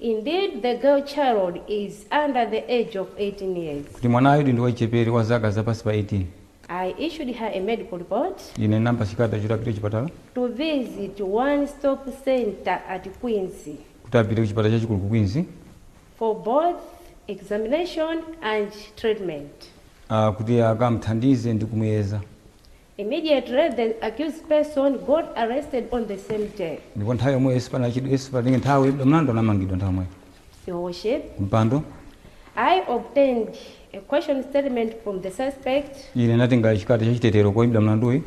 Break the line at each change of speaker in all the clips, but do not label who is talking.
Indeed, the girl child is under the age of 18 years. kuti mwanayu ndi
wachichepere wa zaka zapansi pa 18 I issued
her a medical report. Ine ndinampatsa
chikalata choti apite kuchipatala. to
visit one stop center at Queens. kuti apite kuchipatala
chachikulu ku Queens. for
both examination and treatment.
kuti akamthandize ndi kumuyeza.
Immediately the accused person got arrested on the same day. ndipo nthawi yomweyo
sipanachedwe sipanatenge nthawi woimbidwa mlandu anamangidwa nthawi yomweyo. Yes, Your
Worship.
kumpando.
I obtained a caution statement from the suspect. Ine ndinatenga chikalata
cha chitetero koimbidwa mlanduyi.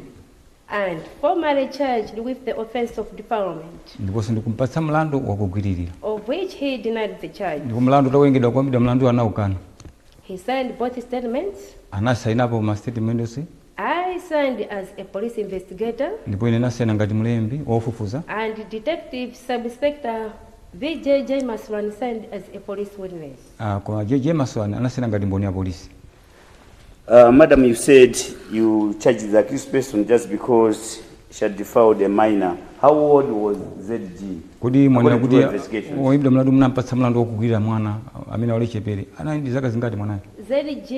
and
formally charged with the offense of defilement. ndiponso
ndikumpatsa mlandu wogwiririra. of which
he denied the charge. ndipo mlandu
utawerengedwa koimbidwa mlanduyi anaukana. He signed
both statements. anasainapo ma
statement onse. I signed
as a police investigator. Ndipo ine ndinasaina ngati
mlembi wa ofufuza. And Detective
Sub-Inspector V. J. Jaimaswany signed as a police witness. Ah, koma J.
Jaimaswany anasaina ngati mboni ya polisi. Uh,
madam, you said you charged the accused person just because She defiled a minor. How old was ZG? Kodi mwanena
kuti woimbidwa mlandu munampatsa mlandu wogwiririra mwana amene ali wachichepere anali ndi zaka zingati mwanayo? ZG,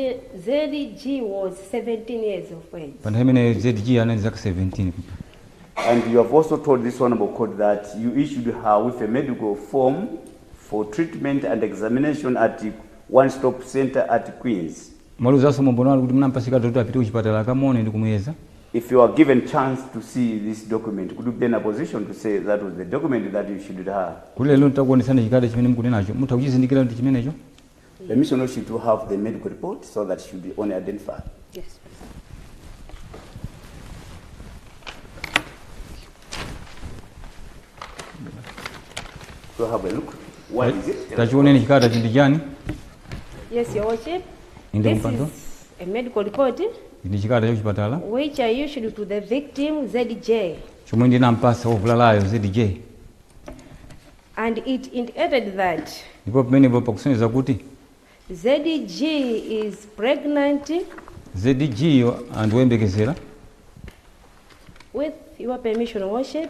ZG was 17 years of age. Pa nthawi imeneyo
ZG anali ndi zaka 17.
And you have also told this honorable court that you issued her with a medical form for treatment and examination at one stop center at Queens. Mwauzanso mu umboni
wanu kuti munampasa chikalata choti apite kuchipatala akamuone ndikumuyeza. If you are
given chance to see this document could you be in a position to say that was the document that you issued her. Kuti lero nditakuonetsani
chikalata chimene mukunenacho mutha kuchizindikila kuti ndichimenecho? Permission also
to have the medical report so that should be only identified.
Yes. Go
have a look. What is it? Tachioneni chikalatachi
ndi chani?
Yes, Your Worship. Inde kumpando.
This is
a medical report ndi chikalata
cha kuchipatala which I issued
to the victim ZG, chomwe ndinampasa
ovulalayo ZG
and it indicated that ndipo
pamenepo pakusonyeza kuti
ZG is pregnant ZG
yo ndi woyembekezera
with your permission, Your Worship.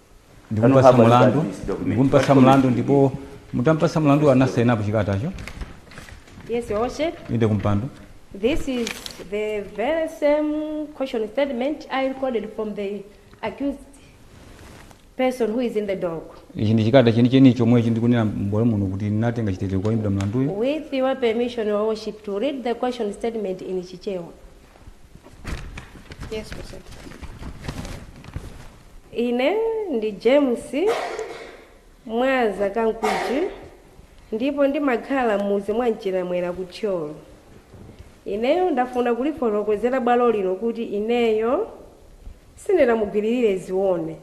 ndikumpasa mulandu ndikumpasa mulandu ndipo mutampasa mulandu anasainapo
chikalatacho Yes, Your Worship. inde kumpando
This is
the very same caution statement I recorded from the accused person who is in the dock ichi ndi chikalata
chenicheni chomwechi ndikunena mubwalo muno kuti ndinatenga chitetezo kwa oimbidwa mulanduyo with your permission,
Your Worship, to read the caution statement in Chichewa.
Yes,
Worship. Ine ndi James Mwaza Kankuchi ndipo ndimakhala m'mudzi mwa Mchiramwera ku Thyolo. Ineyo ndafuna kulifotokozera bwalo lino kuti ineyo sindinamugwiririre Zione.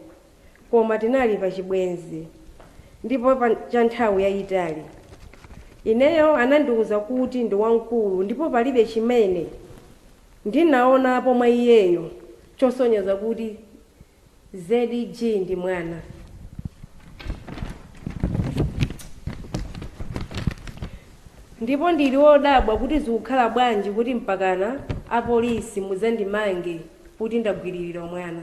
koma tinali pa chibwenzi ndipo cha nthawi yayitali. Ineyo anandiuza kuti ndi wamkulu ndipo palibe chimene ndinaonapo mwa iyeyo chosonyeza kuti ZG ndi mwana. Ndipo ndili wodabwa kuti zikukhala bwanji kuti mpakana apolisi mudzandimange kuti ndagwiririra mwana.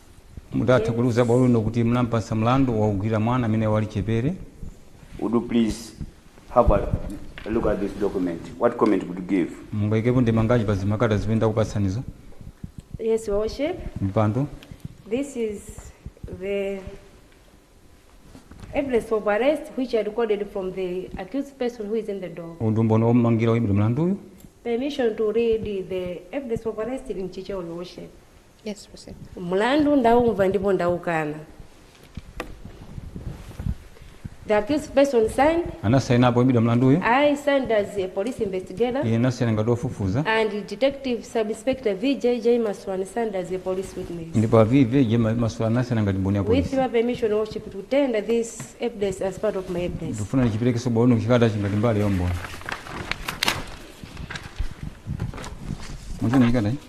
Mutatha kuliuza bwalo lino kuti munampatsa mlandu wogwiririra mwana amene ali wachichepere. Would
you please have a look at this document? What comment would you give? Mungaikepo ndemangaji
pa zikalata zimene ndakupatsanizo? Yes,
Your Worship. Kumpando.
This
is the evidence of arrest which I recorded from the accused person who is in the dock. Uwu ndi umboni ommangira oimbidwa
mlanduyu. Permission to
read the evidence of arrest in Chichewa, Your Worship. Yes,
proceed. Mlandu
ndaumva ndipo ndaukana. The accused person signed, anasaina apo oimbidwa
mlanduyo I signed as
a police investigator iye anasaina ngati wofufuza
and detective
sub-inspector VJJ Maswan signed as a police witness. ndipo a VJJ
Maswan anasaina ngati mboni ya polisi With your permission, Your Worship,
to tender this evidence as part of my evidence. ndikufuna ndichiperekenso bwalo
lino chikalatachi ngati mbali ya umboni muchina chikata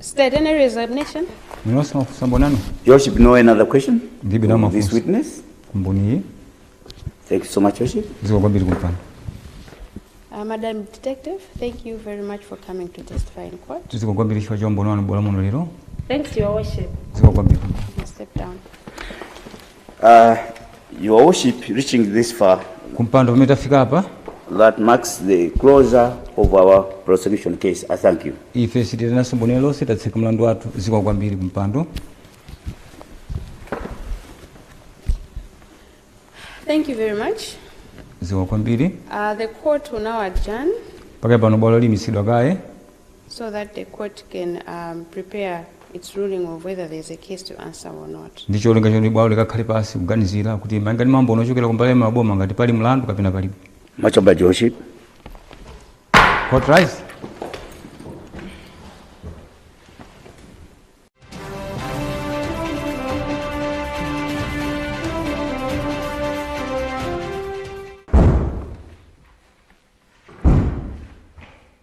State, any resignation? Minosi mafunso
mbonano? Your Worship, no another
question? Ndibe na mafunso. This
witness? Mboni. Thank
you so much, Your Worship. Ziko kwambiri kumpana.
Uh,
Madam Detective, thank you very much for coming to testify in court. Ziko kwambiri shwa jombo nwa
nbola muno lero. Thanks, Your Worship.
Ziko kwambiri.
Step down.
Uh, your worship reaching this far kumpando pamene
tafika apa that
marks the closure of our prosecution case. I thank you. ife sitiitananso mboni
lerolo ndipo tatseka mlandu wathu zikomo kwambiri
kumpando Thank you very much. zikomo kwambiri
Uh, the court
will now adjourn. pakali pano bwalo
liyimitsidwa kaye so
that the court can um, prepare its ruling of whether there is a case to answer or not. Ndi cholinga choti bwalo
likakhale pansi kuganizira kuti malinga ndi maumboni ochokera ku mbali ya a boma ngati pali mlandu kapena palibe. Much obliged, Your Worship. Court rise.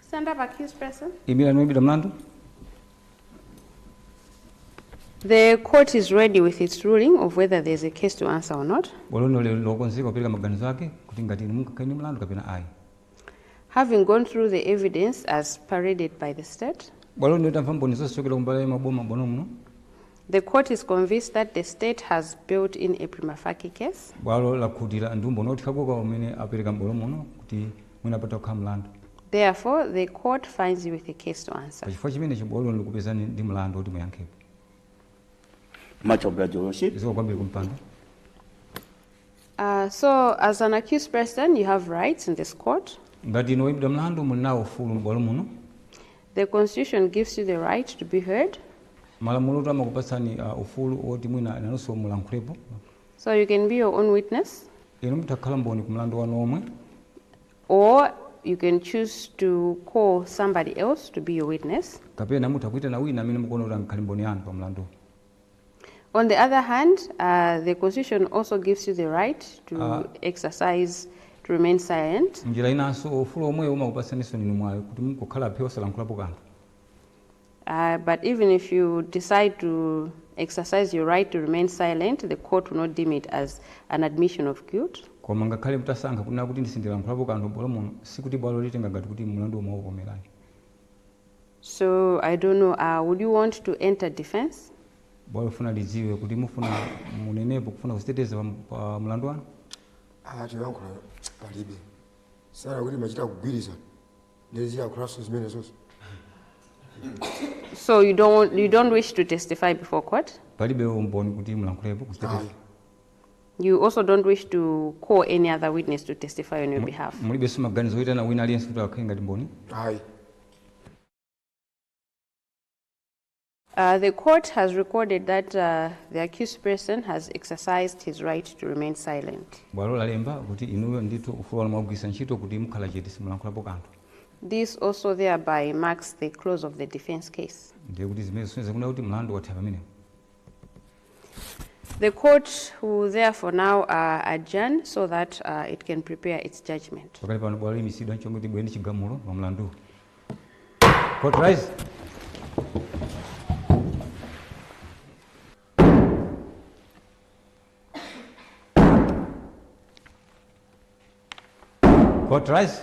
Stand up, accused person. imirani woimbidwa mlandu The court is ready with its ruling of whether there is a case to answer or not. bwalo lino lili
lokonzeka kupereka maganizo ake kuti ngati inu mungakhale ndi mlandu kapena ayi
Having gone through the evidence as paraded by the state, bwalo lino litamva mboni
zonse kuchokera kumbali ya a boma m'bwalo muno The
court is convinced that the State has built in a prima facie case. Bwalo
lakhutira ndi umboni othekako kwa umene apereka m'bwalo muno kuti mwina patha kukhala mlandu. Therefore, the
court finds you with a case to answer. Pachifukwa chimenecho bwalo
likupezani ndi mlandu woti
muyankhepo. Much obliged, Your Worship. Zikomo kwambiri
kumpando.
Uh, so, as an accused person, you have rights in this court. Ngati inu woimbidwa
mlandu muli nawo ufulu m'bwalo muno.
The constitution gives you the right to be heard.
Malamulotu amakupatsani uh, ufulu woti mwina nanunso mulankhulepo. So you can
be your
own
witness. Inu
mutha
kukhala mboni
ku mlandu
wanu omwe.
Or
you can choose to call somebody else to be your witness. Kapena mutha
kuitana wina amene mukuona kuti angakhale mboni yanu pa mlandu.
On the other hand, uh, the constitution also gives you the right to uh, exercise to remain silent. Njira inanso ufulu
omwewo umakupatsaninso inu mwayi woti mukukhala phe osalankhulapo kanthu. Uh,
but even if you decide to exercise your right to remain silent, the court will not deem it as an admission of guilt. Koma ngakhale mutasankha
kunena kuti ndi- sindilankhulapo kanthu m'bwalo muno sikuti bwalo litenga ngati kuti mlandu omwe ukukomerani.
So I don't know, uh, would you want to enter defense? Bwalo
lifuna lidziwe kuti mufuna munenepo kufuna kuziteteza pa, pa mlandu wanu. Ah, tilankhula
palibe. Sara kuti machita kugwirizana. Ndezira kulaso zimene
zonse. So you don't want, you don't wish to testify before court? Palibe umboni kuti
mulankhulepo kuziteteza.
You also don't wish to call any other witness to testify on your behalf. mulibenso maganizo
oyitana wina aliyense kuti akhale ngati mboni ayi
Uh, the court has recorded that uh, the accused person has exercised his right to remain silent. bwalo lalemba
kuti inuyo ndithu ufulu wanu mwagwiritsa ntchito kuti mukhala chete simulankhulapo kanthu This also
thereby marks the close of the defense case. ndiye kuti zimenezi zisonyeza
kunena kuti mlandu watha pamenepo
The court will therefore now uh, adjourn so that uh, it can prepare its judgment. pakali pano bwalo liimitsidwa
n'cholinga kuti libwere ndi chigamulo pa mlanduwu court rise court rise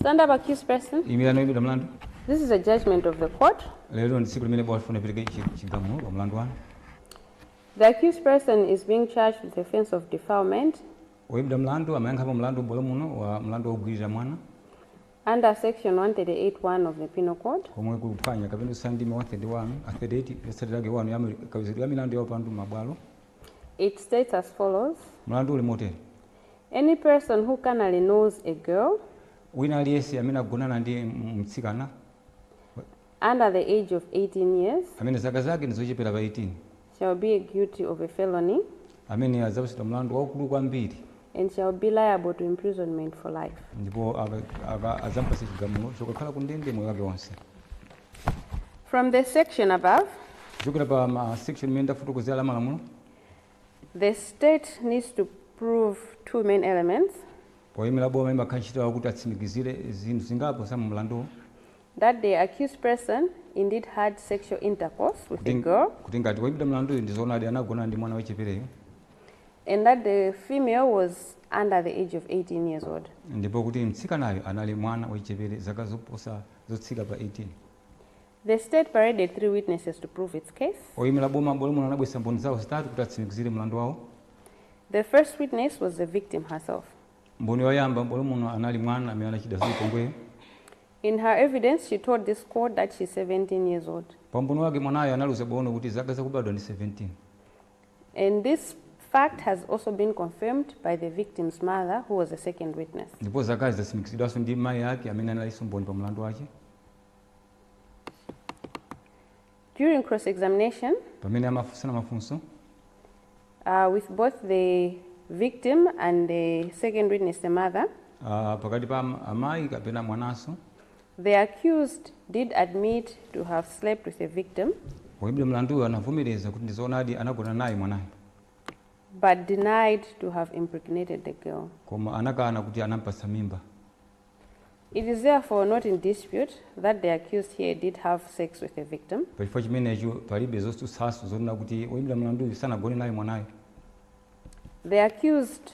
Stand up, accused person. imirani woimbidwa
mlandu This is a
judgment of the court. lero ndi tsiku limene
bwalo lifuna lipereke chi- chigamulo pa mlandu wanu The
accused person is being charged with the offense of defilement woimbidwa mlandu
amayankhapo mlandu m'bwalo muno wa mlandu wogwirira mwana
under section 138.1 of the Penal Code. komwe kuphwanya
kapena kuswa ndime 131 a 38 yotsatira yake 1 ya m'kaweruzidwe ya milandu ya upandu m'mabwalo It
states as follows. mlandu uli motere Any person who carnally knows a girl. wina
aliyense amene agonana ndi mtsikana.
under the age of 18 years. amene zaka zake ndi
zochepera pa 18. shall be guilty
of a felony. ameneyo adzapatsidwa
mlandu waukulu kwambiri. and shall
be liable to imprisonment for life.
ndipo adzamupatsa chigamulo chokakhala ku ndende moyo wake wonse.
From the section above. kuchokera pa ma
section imene ndafotokozera la malamulo.
The state needs to prove two main elements. Oyimira
boma imakhala ntchito yawo kuti atsimikizire zinthu zingapo za mu mlanduwo. That the
accused person indeed had sexual intercourse with the girl. Kuti ngati woyimbidwa
mlanduyo ndi zoonadi anagonana ndi mwana wachichepereyo.
And that the female was under the age of 18 years old. Ndipo kuti mtsikanayo
anali mwana wachichepere zaka zoposa zotsika pa 18.
The state paraded three witnesses to prove its case. Oyimila boma m'bwalo
muno anabweretsa mboni zawo zitatu kuti atsimikizire mlandu wawo. The
first witness was the victim herself. Mboni yoyamba
m'bwalo muno anali mwana amene anachitidwa zachipongweyo. In her
evidence, she told this court that she is 17 years old. Pa umboni wake
mwanayo analiuza bwalo kuti zaka zake zakubadwa ndi 17.
And this fact has also been confirmed by the victim's mother who was the second witness. Ndipo zakazi zatsimikizidwanso
ndi mayi ake amene analinso mboni pa mlandu wake.
During cross examination, pamene amafunsana
mafunso uh,
with both the victim and the second witness, the mother, ah, pakati pa am-
amayi kapena mwananso the
accused did admit to have slept with the victim woimbidwa mlanduyo
anavomereza kuti ndizoonadi anagona naye mwanayo but
denied to have impregnated the girl. koma anakana kuti
anampatsa mimba
It is therefore not in dispute that the accused here did have sex with the victim. Pa chifukwa
chimenecho, palibe zotsutsanso zonena kuti woimbidwa mlanduyu sanagone naye mwanayu.
The accused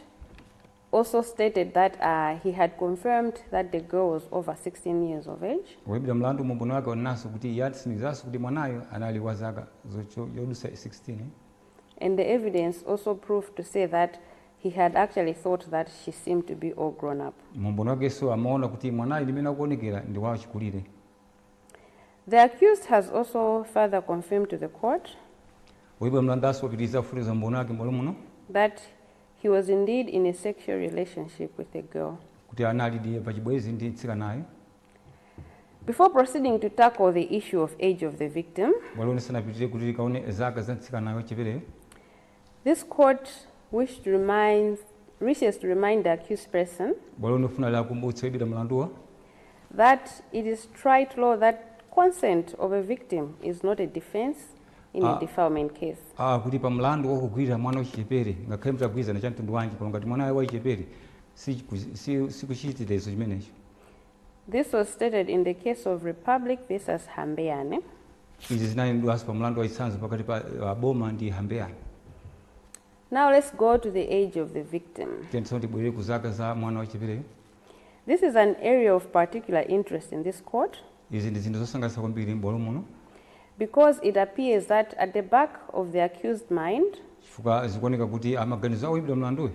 also stated that uh, he had confirmed that the girl was over 16 years of age. Woimbidwa mlandu mu umboni
wake wanenanso kuti iye anatsimikizanso kuti mwanayu anali wa zaka zocho- zodutsa 16. And the
evidence also proved to say that He had actually thought that she seemed to be all grown up. Mu umboni wakenso
amaona kuti mwanayu ndi mmene akuonekera ndi
wachikulire. The accused has also further confirmed to the court. Woimbidwa
mlandunso wapitiriza kufotokoza umboni wake m'bwalo muno.
that he was indeed in a sexual relationship with the girl. kuti
analidi pa chibwenzi ndi
mtsikanayo. Before proceeding to tackle the issue of age of the victim, Bwalo lisanapitirire
kuti likaone zaka za mtsikanayo wachichepereyo.
This court wish to remind, wishes to remind the accused person. Bwalo likufuna
liwakumbutse oimbidwa mlanduwa. That
it is trite law that consent of a victim is not a defense in a ah. defilement case. Ah, kuti pa
mlandu wokugwirira mwana wachichepere ngakhale mutagwirizana cha mtundu wanji koma ngati mwanayo wachichepere si kuchitetezo chimenecho.
This was stated in the case of Republic versus Hambeane.
Izi zinanenedwanso pa mlandu wa chitsanzo pakati pa uh, boma ndi Hambeane.
Now let's go to the age of the victim. Tiyeni tsono tibwerere ku zaka
za mwana wachichepereyo. This
is an area of particular interest in this court Izi ndi zinthu
zosangalatsa kwambiri m'bwalo muno because
it appears that at the back of the accused mind, chifukwa zikuoneka
kuti m'maganizo a woimbidwa mlanduyo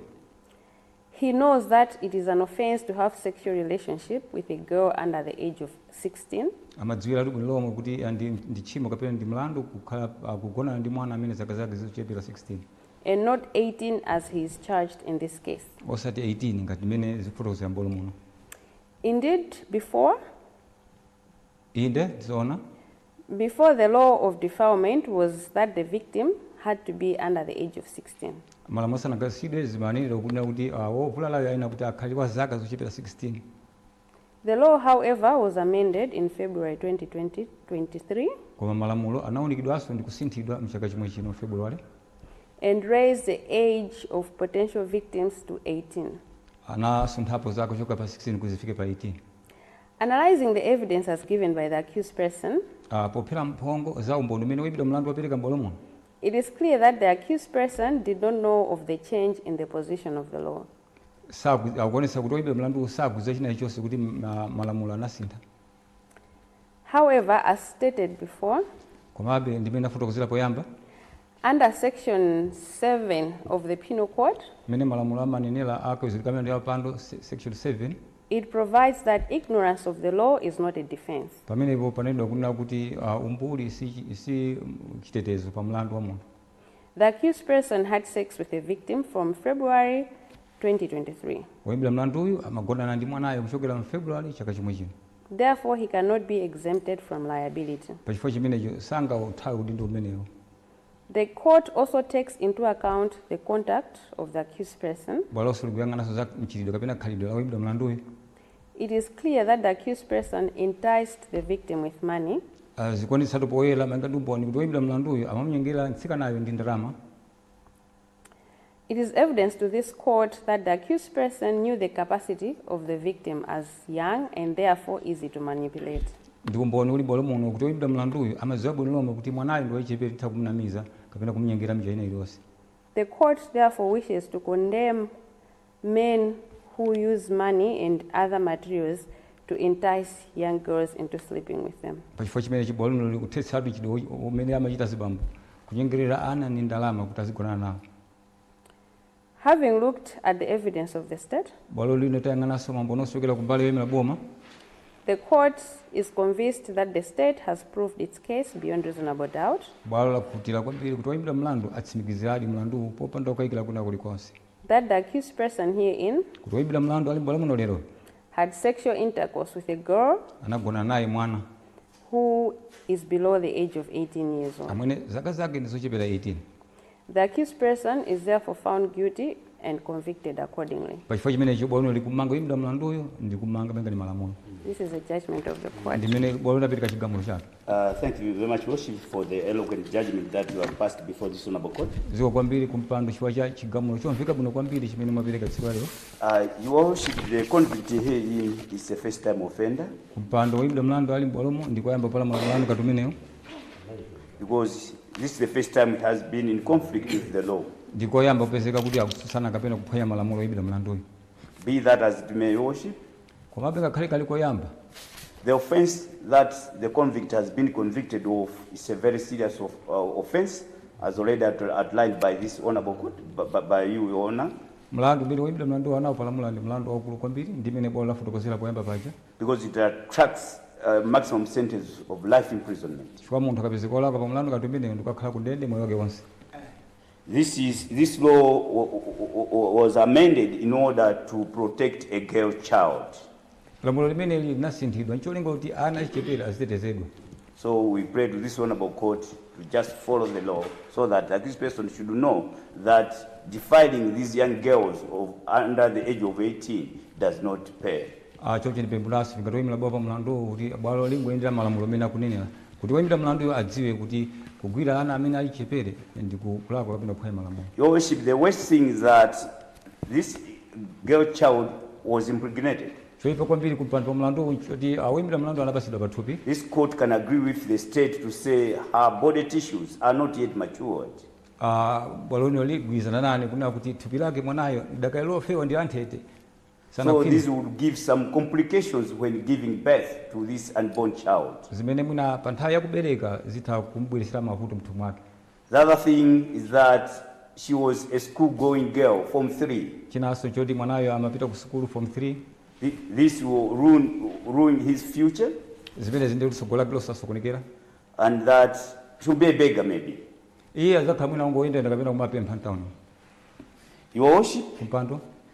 He knows that it is an offence to have sexual relationship with a girl under the age of 16. Amadziwiratu bwino
lomwe kuti ndi ndi tchimo kapena ndi mlandu kukhala akugonana ndi mwana amene zaka zake zikuchepera 16. and not
18 as he is charged in this case. osati 18 ngati
mmene zikufotokozera m'bwalo muno. Indeed,
before. Inde, ndi zoona. Before the law of defilement was that the victim had to be under the age of 16. Malamulo asanakhazikitsidwe,
zimanenedwa kunena kuti a wovulalayo ayenera kuti akhale wa zaka zochepera 16. The
law, however, was amended in February 2023. Koma malamulo
anawunikidwanso ndi kusinthidwa m'chaka chomwe chino, February. and
raised the age of potential victims to 18. anasunthapo
zaka kuchoka pa 16 kuti zifike pa 18.
Analysing the evidence as given by the accused person, a Pophera
mphongo za umboni umene woimbidwa mlandu wapereka m'bwalo muno, it is clear that
the accused person did not know of the change in the position of the law. saku,
akuonetsa kuti woimbidwa mlanduwo sakudziwa china chilichonse kuti ma, malamulo anasintha. However,
as stated before, Komabe, monga
m'mene ndafotokozera poyamba,
Under Section 7 of the Penal Code. Mmene
malamulo amanenela a kaweruzidwe ka milandu ya upandu, Section 7. It provides
that ignorance of the law is not a defence. Pamenepo panenedwa kunena
kuti umbuli si si chitetezo pa mlandu wa munthu. The
accused person had sex with the victim from February 2023. Woimbidwa mlanduyu
amagonana ndi mwanayo kuchokera m'February chaka chomwechino. Therefore, he
cannot be exempted from liability. Pa chifukwa chimenecho,
sangauthawe udindo umenewu. The
court also takes into account the conduct of the accused person. Bwalonso likuyang'ananso za
mchitidwe kapena khalidwe la woimbidwa mlanduyo. It is
clear that the accused person enticed the victim with money. Uh, zikuonetsatu
poyera malinga ndi umboni kuti woimbidwa mlanduyo amamnyengerera mtsikanayo ndi ndalama.
It is evidence to this court that the accused person knew the capacity of the victim as young and therefore easy to manipulate. Ndi umboni uli
m'bwalo muno kuti oyimbidwa mlanduyu amadziwa bwino lomwe kuti mwanayo ndi wachichepere titha kumnamiza kapena kumnyengera m'njira ina iliyonse. The court
therefore wishes to condemn men who use money and other materials to entice young girls into sleeping with them. Pa chifukwa chimenechi, bwalo lino
likuthetsatu chidwi umene amachita azibambo kunyengerera ana ndi ndalama kuti azigonana nawo.
Having looked at the evidence of the State, Bwalo lino
litayang'ananso maumboni onse ochokera ku mbali yoimira boma,
the Court is convinced that the State has proved its case beyond reasonable doubt bwalo lakhutira
kwambiri kuti oimbidwa mlandu atsimikiziradi mlanduwu popanda kukayikira kwina kulikonse. that the accused
person herein kuti woimbidwa mlandu ali
m'bwalo muno lero had sexual
intercourse with a girl anagonana naye mwana
who
is below the age of 18 years old. amene zaka zake ndi
zochepera 18 The accused
person is therefore found guilty and convicted accordingly. pachifukwa chimenecho bwalo lino
likumanga woimbidwa mlanduyo ndi kumanga malinga ndi malamulo This is the judgment
of the court. ndimene bwalo lino lapereka chigamulo
chake Uh, thank you very
much, Worship, for the eloquent judgment that you have passed before this honorable court. zikomo kwambiri
kumpando chifukwa cha chigamulo chomveka bwino kwambiri chimene mwapereka tsiku la lero Uh, your worship,
the convict herein is a first time offender kumpando
woyimbidwa mlandu ali m'bwalomu ndikoyamba kupalamula mlandu ngati
umenewu because this is the first time it has been in conflict with the law. ndikoyamba kupezeka
kuti akutsutsana kapena kuphwanya malamulo oyimbidwa mlanduyo Be that as
it may, your worship, Komabe,
ngakhale kali koyamba.
The offence that the convict has been convicted of is a very serious of, uh, offence as already out- outlined by this honourable court, by, by, by you, Your Honour, Mlandu umene
woimbidwa mlandu anaupalamula ndi mlandu waukulu kwambiri ndi mmene bwalo lafotokozera poyamba paja because it
attracts uh, maximum sentence
of
life
imprisonment. chifukwa munthu akapezeka olakwa pa
mlandu
ngati umenewu
ndikukakhala
ku ndende moyo wake
wonse. This is this law was amended in order to protect a girl child. Lamulo
limeneli linasinthidwa ncholinga kuti ana achichepere azitetezedwa. So we
pray to this honorable court to just follow the law so that, that this person should know that defiling these young girls of under the age of 18 does not pay. Ah, choncho ndipemphanso
ngati oyimira bwalo pa mlandu kuti bwalo lingoyendera malamulo amene akunenera Kuti woimbidwa mlanduyo adziwe kuti kugwira ana amene ali achichepere ndi kulakwa kapena kuphwanya malamulo. Your Worship, the
worst thing is that this girl child was impregnated. Choipa kwambiri ku
mpando pa mlanduwu nchoti a woimbidwa mlandu anapatsidwa pathupi. This court can
agree with the State to say her body tissues are not yet matured. a Bwalo
lino ligwirizana nane kunena kuti thupi lake mwanayo lidakali lofewa ndi lanthete. So
this would give some complications when giving birth to this unborn child. zimene mwina
pa nthawi ya kubereka zitha kumubweretsera mavuto mthupi mwake The other thing
is that she was a school going girl, Form 3. chinanso choti mwanayo
amapita ku sukulu form 3 Thi- This
will ruin, ruin his future zimene
ndiye tsogolo lake lizasokonekera and that
she'll be a beggar maybe. iye adzakhala
mwina wongoyendayenda kapena kumapempha mtawuni Your
worship, kumpando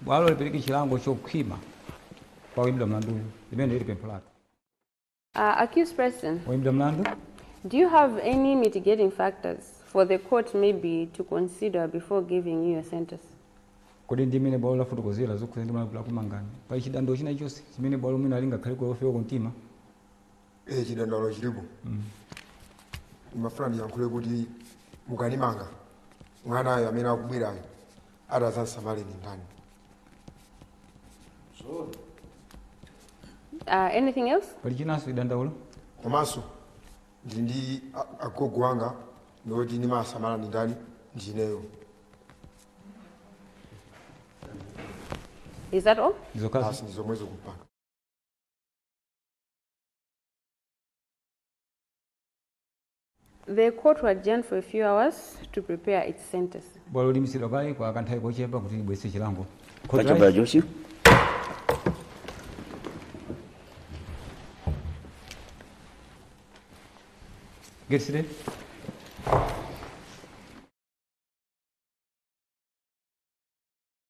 Bwalo lipereke
chilango chokhwima kwa woimbidwa mlanduyu. Limeneli ndi pempho lathu.
Uh, accused person, Woimbidwa mlandu
do you have
any mitigating factors for the court maybe to consider before giving you your sentence? Kodi
ndi mmene bwalo lafotokozera zokhudzana ndi malamulo akumangani? Pali chidandaulo china chonse chimene bwalo mwina lingakhale lofewa kumtima?
Eh, chidandaulo chilipo. Ndimafuna ndiyankhule kuti mukanimanga mwanayo amene akubwerayo ati azansamale ndi
ndani zoona Uh, anything else? pali chinanso chidandaulo
komanso
ndili ndi a- agogo anga ndi oti ndimasamala ndi ndani
ndineyo Is that all? ndizokhazo basi ndi zomwezo
kumpando
The court to adjourn for a few hours to prepare its sentence. Bwalo limitsidwa kaye
kwa kanthawi kochepa kuti libwetse chilango. Court Thank you, rise. Brother Joshi. Get seated.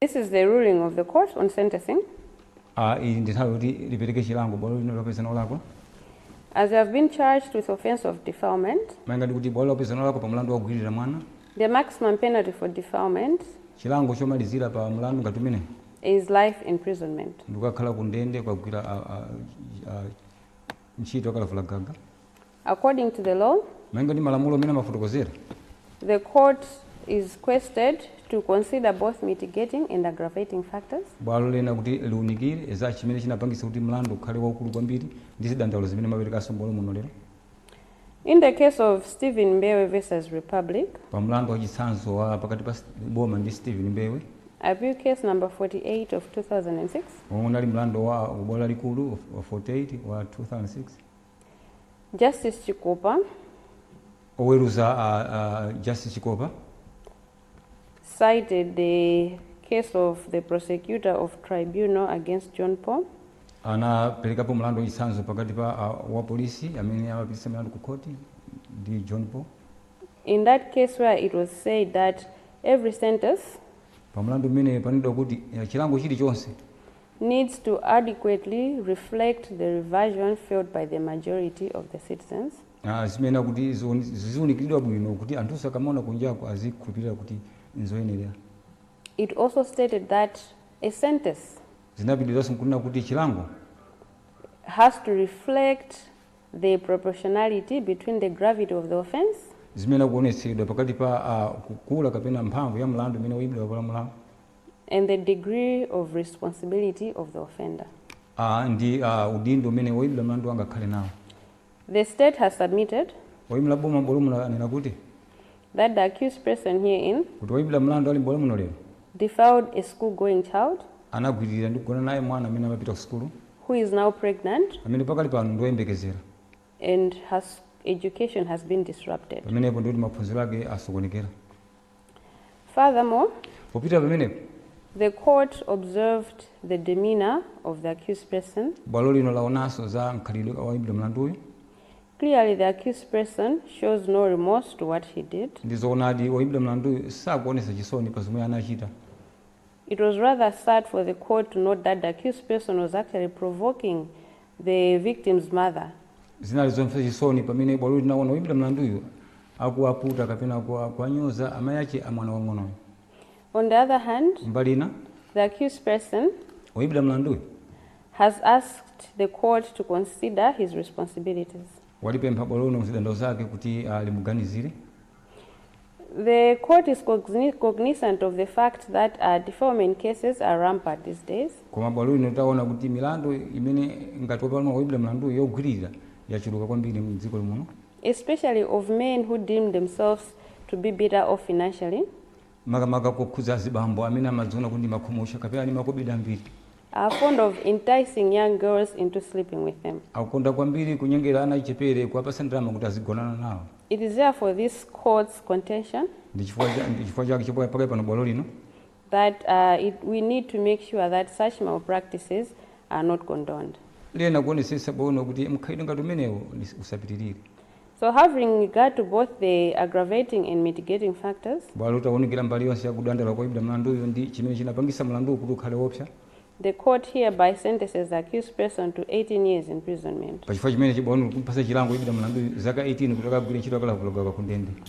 This is the ruling of the court on sentencing. a.
Iyi ndi nthawi yoti lipereke chilango bwalo
lino lawapeza olakwa. As you have been charged with offense of defilement, Malinga ndi kuti bwalo lakupezani olakwa pa mlandu wa kugwiririra mwana, the maximum penalty for defilement chilango chomalizira pa mlandu ngati umenewu is life imprisonment. ndikukakhala ku ndende kukagwira a- a- a- ntchito yakalavula gaga. according to the law, malinga ndi malamulo mmene amafotokozera. the court is requested to consider both mitigating and aggravating factors. Bwalo liyenera kuti liunikire za chimene chinapangitsa kuti mlandu ukhale waukulu kwambiri ndi zidandaulo zimene mwaperekanso m'bwalo muno lero. In the case of Stephen Mbewe versus Republic, Pa mlandu wa chitsanzo wa pakati pa St- boma ndi Stephen Mbewe appeal case number 48 of 2006, womwe unali mlandu wa bwalo lalikulu wa 48 wa 2006 Justice Chikopa. Oweruza a Justice Chikopa. cited the case of the prosecutor of tribunal against John Paul. anaperekapo mlandu wachitsanzo pakati pa a, wapolisi amene amapititsa milandu ku khoti ndi John Paul. In that case where it was said that every sentence Pa mlandu umene pananenedwa kuti eh, chilango chilichonse needs to adequately reflect the revulsion felt by the majority of the citizens. Ah, zimayenera kuti ziwoni- ziziwunikiridwa bwino kuti anthunso akamaona kunjaku azikhulupirira kuti nzoyenera It also stated that a sentence zinapitiriranso nkunena kuti chilango has to reflect the proportionality between the gravity of the offense zimayenera
kuonetsedwa pakati pa ah, kukula kapena mphamvu ya mlandu umene woyimbidwa wapalamulawo and
the degree of responsibility of the offender. a ndi
a udindo umene woimbidwa mlandu angakhale nawo. The State
has submitted. Woimira boma m'bwalo
muno anena kuti. That the
accused person herein. Kuti woimbidwa mlandu ali
m'bwalo muno lero. Defiled
a school going child. Anagwiririra ndi
kugona naye mwana amene amapita ku sukulu. Who is now
pregnant. Amene pakali pano ndi
woyembekezera. And
her education has been disrupted. Pamenepo ndikuti maphunziro
ake asokonekera.
Furthermore, Popita
pamenepo, the
court observed the demeanor of the accused person. bwalo lino laonanso
za mkhalidwe wa woimbidwa mlanduyu.
Clearly, the accused person shows no remorse to what he did. Ndi zoonadi, woimbidwa
mlanduyu sakuonetsa chisoni pa zomwe anachita. It
was rather sad for the court to note that the accused person was actually provoking the victim's mother. Zinali zomvetsa
chisoni pamene bwalo lino linaona woimbidwa mlanduyu akuwaputa kapena kuwanyoza amayi ake a mwana wamng'onoyo. On
the other hand, kumbali ina,
the accused
person woimbidwa
mlanduyu
has asked the court to consider his responsibilities. Walipempha bwalo
lino mzidandaulo zake kuti alimuganizire.
The court is cogni cognizant of the fact that uh, defilement cases are rampant these days. Koma bwalo lino taona
kuti milandu imene ngati wapalamula woimbidwa mlanduyu yogwiririra yachuluka kwambiri mdziko muno. Especially of
men who deem themselves to be better off financially.
makamaka kokhudza azibambo amene amadziona kuti ndi makhumutcha kapena ali ndi makobidi ambiri. are fond
of enticing young girls into sleeping with them. akukonda kwambiri
kunyengera ana achichepere kuwapatsa ndalama kuti azigonana nawo. It is therefore this
Court's contention. Ndi chifukwa cha,
ndi chifukwa chake chifukwa pakali pano bwalo lino. That
uh, it, we need to make sure that such malpractices are not condoned. Liyenera kuonetsetsa
bwino kuti mkhalidwe ngati umenewo usapitirire. So
having regard to both the aggravating and mitigating factors. Bwalo litaunikira mbali
yonse ya kudandauka kwa woimbidwa mlanduyu ndi chimene chinapangitsa mlanduwu kuti ukhale woopsa. The
court hereby sentences the accused person to 18 years imprisonment. Pachifukwa chimenechi bwalo
likumupatsa chilango woimbidwa mlanduyu zaka 18 kuti akagwire ntchito yakalavulagaga kundende.